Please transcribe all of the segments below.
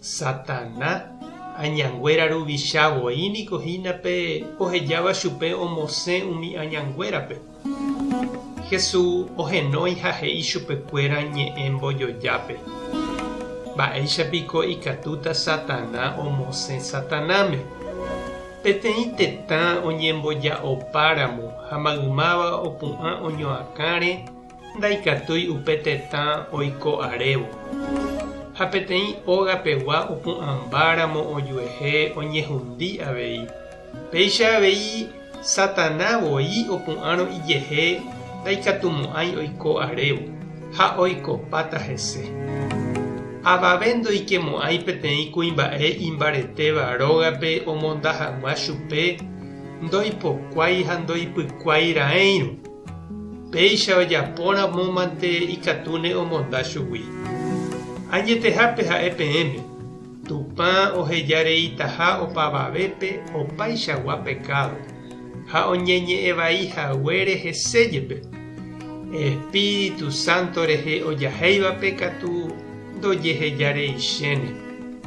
Satana, añanguéra ruvicha voi niko hína pe ohejáva chupe omosẽ umi añanguérape. Jesús ohenói ha he'i chupekuéra ñe'ẽ mbojojápe, Mba'éicha piko ikatúta Satana omosẽ Satanáme? Peteĩ tetã oñemboja'opáramo ha maymáva opu'ã oñoakãre Ndaikatúi upe tetã oiko arévo. Ha peteĩ óga pegua opu'ãmbáramo ojuehe oñehundi avei. Péicha avei, Satana voi opu'ãrõ ijehe ndaikatumo'ãi oiko arévo, ha oikopáta hese. Avave ndoikemo'ãi peteĩ kuimba'e imbaretéva rógape omonda hag̃ua chupe ndoipokuái ha ndoipykuái raẽirõ. Péicha ojaporamomante ikatúne omonda chugui. Añetehápe ha'e peẽme, Tupã oheja reitaha opavavépe opaichagua pekádo, ha oñeñe'ẽ vai haguére hese jepe. Espíritu Santo rehe ojahéivape katu ndojeheja rei chéne,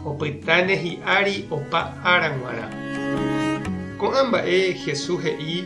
opytáne hi'ári opa ára g̃uarã. Ko'ã mba'e Jesús he'i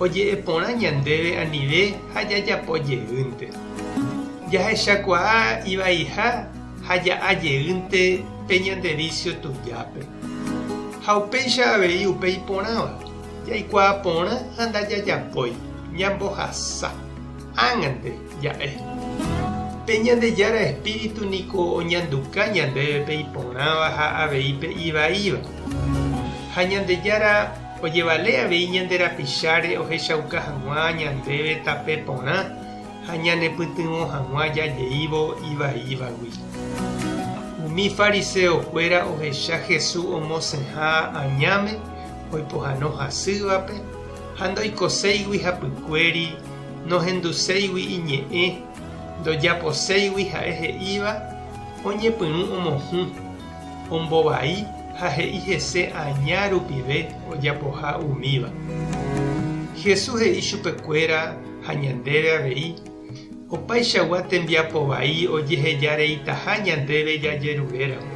oje'e porã ñandéve anive ha jajapo jeýnte. Jahechakuaa ivaiha ha ja'a jeýnte pe ñande vísio tujápe. Ha upéicha avei upe iporãva, jaikuaa porã ha ndajajapói, ñambohasa. Ág̃ante ja'e. Pe Ñandejára espíritu niko oñanduka ñandéve pe iporãva ha avei pe ivaíva. Ha Ñandejára. ojevale avei ñande rapicháre ohechauka hag̃ua ñandéve tape porã ha ñanepytyvõ hag̃ua jajeívo ivaívagui. Umi fariseokuéra ohecha Jesús omosẽha añáme oipohano hasývape ha ndoikoséigui hapykuéri, nohenduséigui iñe'ẽ, ndojaposéigui ha'e he'íva, oñepyrũ omohũ. ombovai ha he'i hese aña rupive ojapoha umíva. Jesús he'i chupekuéra ha ñandéve avei, opaichagua tembiapo vai ojeheja reitaha ñandéve jajeruréramo.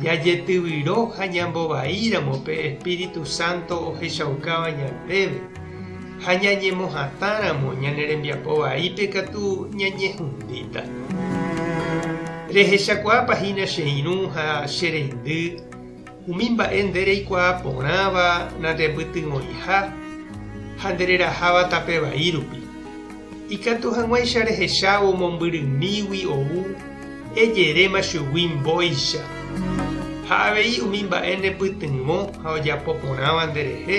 Jajetyvyro ha ñambovaíramo pe Espíritu Santo ohechaukáva ñandéve, ha ñañemohatãramo ñane rembiapo vaípe katu ñañehundíta. Rehechakuaápa hína che irũ ha che reindy, umi mba'e nde reikuaa porãva nandepytyvõiha ha nde reraháva tape vai rupi. Ikatu hag̃uáicha rehechávo mombyrymígui ou, ejeréma chugui mbóicha. Ha avei umi mba'e nepytyvõ ha ojapo porãva nde rehe,